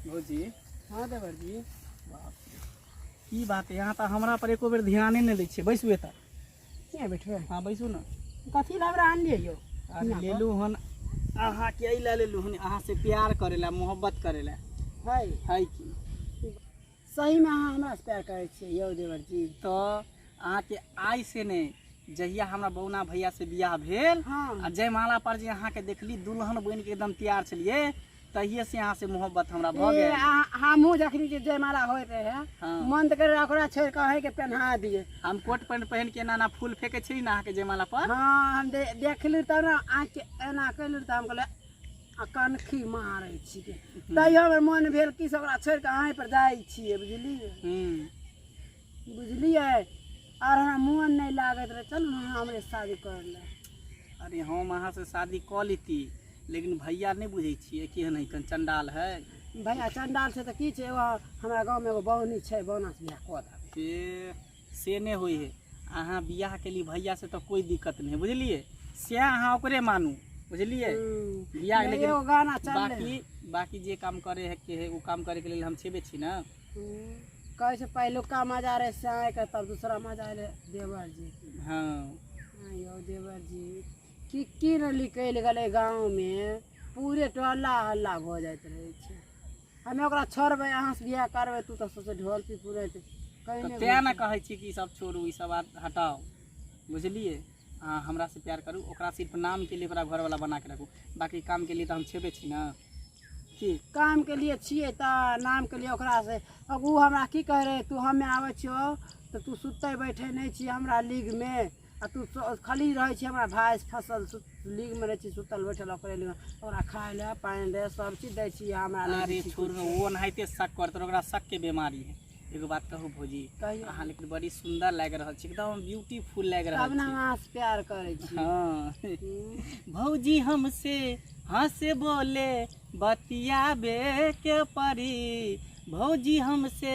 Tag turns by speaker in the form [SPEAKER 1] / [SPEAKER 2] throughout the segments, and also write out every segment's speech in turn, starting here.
[SPEAKER 1] भौजी हँ देवर
[SPEAKER 2] जी बाप रे।
[SPEAKER 1] की बात यहाँ तऽ हमरा पर एको बेर ध्याने नहि दै छियै बैसू एतऽ किया बैठबै
[SPEAKER 2] हँ बैसू ने
[SPEAKER 1] कथी लए हमरा आनलियै
[SPEAKER 2] यौ अरे यहाँ पर? लेलू हन
[SPEAKER 1] अहाँके एहि लए लेलू हन अहाँसँ प्यार करै लए मोहब्बत करै लए है है की
[SPEAKER 2] सहीमे अहाँ हमरा से प्यार करै छियै यौ देवर जी तो
[SPEAKER 1] अहाँ के आइ से ने जहिया हमरा बौना भैया से बियाह भेल हाँ। आ जयमाला पर जे अहाँ के देखली दुल्हन बन के एकदम तैयार छलिए तहिए से अहाँ से मोहब्बत हमरा भऽ गेल हमहूँ जखनी
[SPEAKER 2] के जयमाला होय रहे हाँ। मन तऽ करे ओकरा छोड़ कऽ अहीं के पहना दिए हम कोट पैंट पहन
[SPEAKER 1] के एना एना फूल फेंके छी ना अहाँ के जयमाला पर हाँ हम दे,
[SPEAKER 2] देखलू तब ना आँख के एना कैलू तऽ हम कहले आ कनखी मारै छिकै तैयो हमर मोन भेल कि से ओकरा छोड़ि कऽ अहींपर जाइ छियै बुझलियै हूँ बुझलियै आर हमरा मोन नहि लागैत रहै चलू ने अहाँ हमरे शादी कर ले अरे हम
[SPEAKER 1] अहाँ से शादी कऽ लेती लेकिन भैया नहि बुझै छियै केहन है कन चंडाल है भैया चंडाल
[SPEAKER 2] छै तऽ की छै एगो हमरा गाँवमे एगो बौनी छै बौनासँ बियाह कऽ देबै से
[SPEAKER 1] से नहि होइ है अहाँ बियाह केली भैया से तो कोई दिक्कत नहीं बुझलिए से अहाँ ओकरे मानू बुझलिए बियाह लेकिन एगो गाना चल बाकी
[SPEAKER 2] बाकी
[SPEAKER 1] जे काम करे है के है उ काम करे के लेल हम छेबे छी ना कहै
[SPEAKER 2] छै पहिलुका मजा रहे से आए के तब दूसरा मजा रहे देवर जी हाँ
[SPEAKER 1] हाँ यौ
[SPEAKER 2] देवर जी की की न निकलि गेलै गाँव में पूरे टोला हल्ला भऽ जाइत रहै छै हमे ओकरा छोड़बै अहाँसँ बियाह करबै तू तऽ सोचे ढोलकी पूरे तऽ कहीं नहि तैँ ने
[SPEAKER 1] कहै छी कि ई सब छोड़ू ई सब बात हटाओ बुझलिए अहाँ हमरासँ प्यार करू ओकरा सिर्फ नामके लिए ओकरा घरवला बना के रखू बाकी कामके लिए तऽ हम छेबे छी ने की
[SPEAKER 2] काम के लिए छिए तऽ नाम के लिए ओकरा से अब उ हमरा की कहे रहे तू हमे आबै छियो तऽ तू सुते बैठे नहीं छी हमरा लीग में आ तू स- खाली रहै छै हमरा भाइस फसल सु- लीग मे रहै छै सुतल बैठल ओकरे लग ओकरा खाय ले पानि दे सब चीज दै छी हमरा नहि अरे दै छी छोड़ कुछ। वो
[SPEAKER 1] ओनाहिते शक करते ओकरा शक के बीमारी है एगो बात कहू भौजी कहियौ। अहाँ लेकिन बड़ी सुंदर लाग रहल छी एकदम ब्यूटीफुल लाग तब रहल ने छी अहाँ से प्यार
[SPEAKER 2] करै छी हाँ हम्म।
[SPEAKER 1] भौजी हमसे हंस बोले बतियाबे के परी भौजी हमसे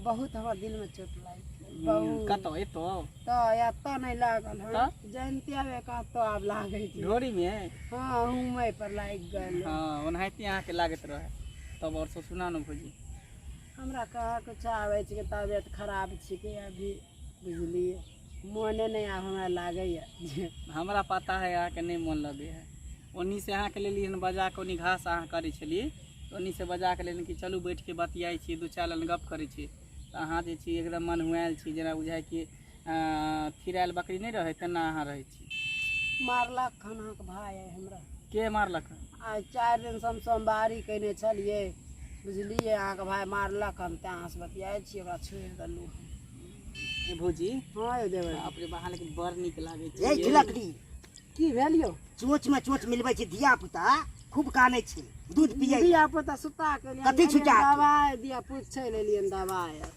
[SPEAKER 2] बहुत हमरा दिल में चोट लाग बहुत कतौ एतो तो
[SPEAKER 1] एतऽ नहीं
[SPEAKER 2] लागल हन तऽ? जयंतिया में कतौ आब लागे छै ढोरी मे हाँ
[SPEAKER 1] हुमै
[SPEAKER 2] पर लाग गेल हँ ओनाहिते अहाँके
[SPEAKER 1] लागैत रहै तब आओर सब सुना ने भौजी हमरा
[SPEAKER 2] कहाँ कुछ आबै छै तबियत खराब छिकै अभी बुझलियै मोने नहि आब हमरा लागैए जे हमरा पता है
[SPEAKER 1] अहाँके नहि मोन लगे है ओन्नी से अहाँके लेली हन बजा कऽ ओन्नी घास अहाँ करै छलियै तऽ ओन्नी से बजा कऽ लेली कि चलू बैठ के बतियाइ छी दू चारि लाइन गप करै छी तऽ अहाँ जे छी एकदम मन हुआएल छी जेना बुझाइ कि अं, थिराएल बकरी नहि रहै तेना अहाँ रहै छी मारलक खाना
[SPEAKER 2] के भाय है हमरा के मारलक
[SPEAKER 1] आइ चारि दिन
[SPEAKER 2] से हम सोमवारी कयने छलियै बुझलियै अहाँके भाय मारलक हम तेँ अहाँसँ बतियाइ छियै ओकरा छोड़ि देलहुँ ए
[SPEAKER 1] भौजी हँ यौ देबै बाप
[SPEAKER 2] रे बाह लेकिन बड़
[SPEAKER 1] नीक लागै छै यही झिलकड़ी
[SPEAKER 3] की भेल
[SPEAKER 2] यौ चोच में चोच
[SPEAKER 3] मिलबै छै धिया पुता खूब कानै छै दूध पियै धिया पुता सुता
[SPEAKER 2] के लिए कथी छुटा के? दवाइ
[SPEAKER 3] दिया पूछै
[SPEAKER 2] ले लिए दवाइ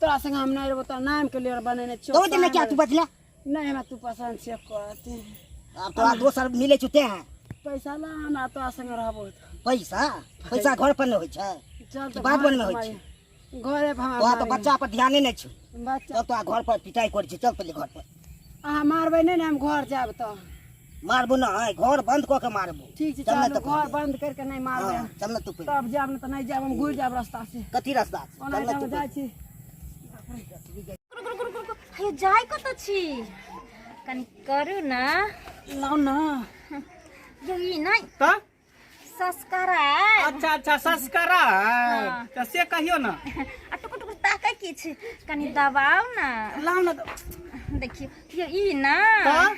[SPEAKER 2] तोरा संग हम नहीं रहबो तो नाम के लिए बनेने चो तो दिन क्या तू बदला
[SPEAKER 3] नहीं हमरा तू
[SPEAKER 2] पसंद से कहते अब तो
[SPEAKER 3] दोसर मिले चुते हैं पैसा ला हमरा
[SPEAKER 2] तोरा संग रहबो पैसा
[SPEAKER 3] पैसा घर पर न होय छै तो बात बन में
[SPEAKER 2] होय छै
[SPEAKER 3] घरे पर हमरा तो
[SPEAKER 2] बच्चा पर ध्यान
[SPEAKER 3] नहीं छै बच्चा तो घर पर
[SPEAKER 2] पिटाई
[SPEAKER 3] कर छै
[SPEAKER 2] चल
[SPEAKER 3] पहले घर पर
[SPEAKER 2] अहाँ
[SPEAKER 3] मारबै
[SPEAKER 2] नहि
[SPEAKER 3] ने हम घर
[SPEAKER 2] जायब
[SPEAKER 3] तऽ मारबो ना है घर बंद क के मारबो ठीक छै चल ना चल तो घर
[SPEAKER 2] बंद कर
[SPEAKER 3] के नहीं मार
[SPEAKER 2] दे चल ना तू तब
[SPEAKER 3] जाब ना तो नहीं जाब हम
[SPEAKER 2] घुर जाब रास्ता से कथी रास्ता से ओना
[SPEAKER 3] हम जाय छी
[SPEAKER 4] हे जाय कत छी कनी करू ना लाओ ना यही नहीं त
[SPEAKER 1] सस्करा
[SPEAKER 4] अच्छा अच्छा
[SPEAKER 1] सस्करा हाँ। तो से कहियो ना आ टुकुर टुकुर
[SPEAKER 4] ताकै की छै कनि दबाउ ना लाओ ना तो-
[SPEAKER 1] देखियो
[SPEAKER 4] यो ई ना हाँ?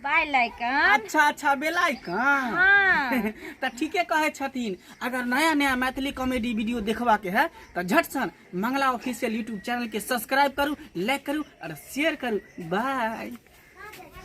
[SPEAKER 4] बाय लाइकन अच्छा अच्छा बेलाई
[SPEAKER 1] का हाँ
[SPEAKER 4] तो ठीके
[SPEAKER 1] कहे छथिन अगर नया नया मैथिली कॉमेडी वीडियो देखबा के है तो झट सन मंगला ऑफिशियल यूट्यूब चैनल के सब्सक्राइब करू लाइक करू और शेयर करू बाय